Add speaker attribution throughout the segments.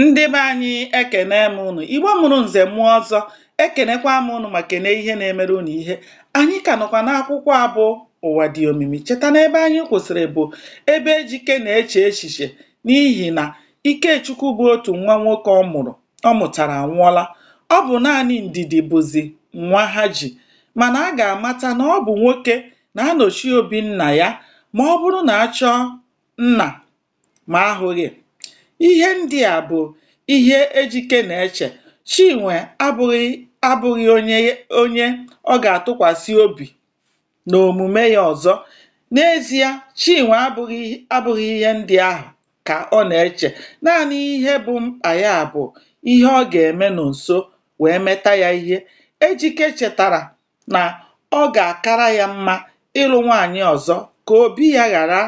Speaker 1: Ndị be anyị ekene m ụnụ, Igbo mụrụ nze mụọ ọzọ, ekenekwa m ụnụ ma kene ihe na-emere ụnụ ihe. Anyị ka nọkwa n'akwụkwọ a bụ Ụwa Dị Omimi. Cheta na ebe anyị kwụsịrị bụ ebe Ejike na-eche echiche n'ihi na Ikechukwu bụ otu nwa nwoke ọ mụrụ ọ mụtara anwụọla. Ọ bụ naanị Ndidi bụzi nwa ha ji. Mana a ga-amata na ọ bụ nwoke na-anọchi obi nna ya ma ọ bụrụ na a chọọ nna ma a hụghị. Ihe ndị a bụ ihe Ejike na-eche. Chinwe abụghị onye ọ ga-atụkwasị obi n'omume ya ọzọ. N'ezie, Chinwe abụghị ihe ndị ahụ ka ọ na-eche. Naanị ihe bụ mkpa ya bụ ihe ọ ga-eme Nọnso wee meta ya ihe. Ejike chetara na ọ ga-akara ya mma ịlụ nwaanyị ọzọ ka obi ya ghara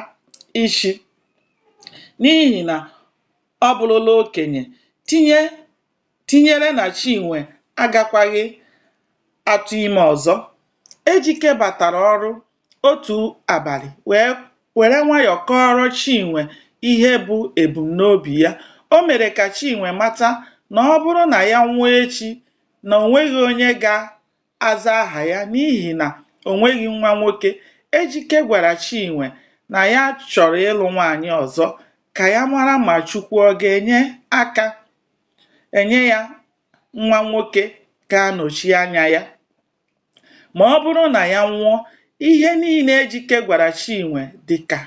Speaker 1: ishi n'ihi na ọ bụrụla okenye tinyere na Chinwe agakwaghị atụ ime ọzọ. Ejike batara ọrụ otu abalị were nwayọọ kọọrọ Chinwe ihe bụ ebumnobi ya. O mere ka Chinwe mata na ọ bụrụ na ya nwụọ echi na o nweghị onye ga aza aha ya n'ihi na o nweghị nwa nwoke, Ejike gwara Chinwe na ya chọrọ ịlụ nwaanyị ọzọ ka ya mara ma Chukwu ọ ga-enye aka enye ya nwa nwoke ga-anọchi anya ya ma ọ bụrụ na ya nwụọ. Ihe niile Ejike gwara Chinwe dị ka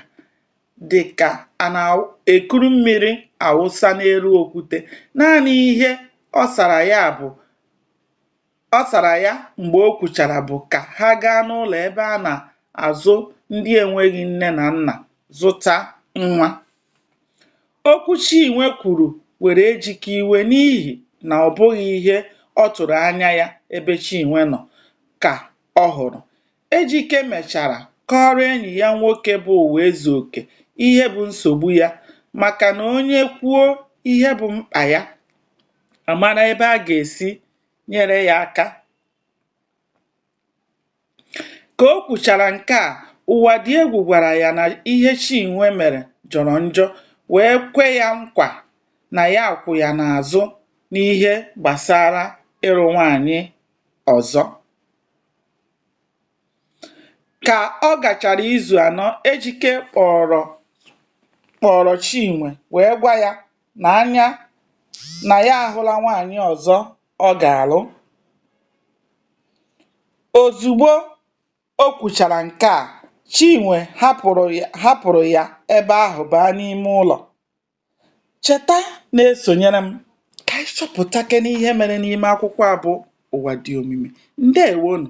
Speaker 1: dị ka a na-ekuru mmiri awụsa n'elu okwute. Naanị ihe ọ sara ya bụ Ọ sara ya mgbe o kwuchara bụ ka ha gaa n'ụlọ ebe a na-azụ ndị enweghị nne na nna zụta nwa. Okwu Chinwe kwuru were Ejike iwe n'ihi na ọ bụghị ihe ọ tụrụ anya ya ebe Chinwe nọ ka ọ hụrụ. Ejike mechara kọọrọ enyi ya nwoke bụ Ụwaezuoke ihe bụ nsogbu ya maka na onye kwuo ihe bụ mkpa ya, a mara ebe a ga-esi nyere ya aka. Ka o kwuchara nke a, Ụwadịegwu gwara ya na ihe Chinwe mere jọrọ njọ wee kwe ya nkwa na ya kwụ ya n'azụ n'ihe gbasara ịlụ nwaanyị ọzọ. Ka ọ gachara izu anọ, Ejike kpọrọ Chinwe wee gwa ya n'anya na ya ahụla nwaanyị ọzọ ọ ga-alụ. Ozugbo o kwuchara nke a, Chinwe hapụrụ ya ebe ahụ baa n'ime ụlọ. Cheta na-esonyere m ka anyị chọpụtakene ihe mere n'ime akwụkwọ a bụ Ụwa Dị Omimi. Ndewo nụ.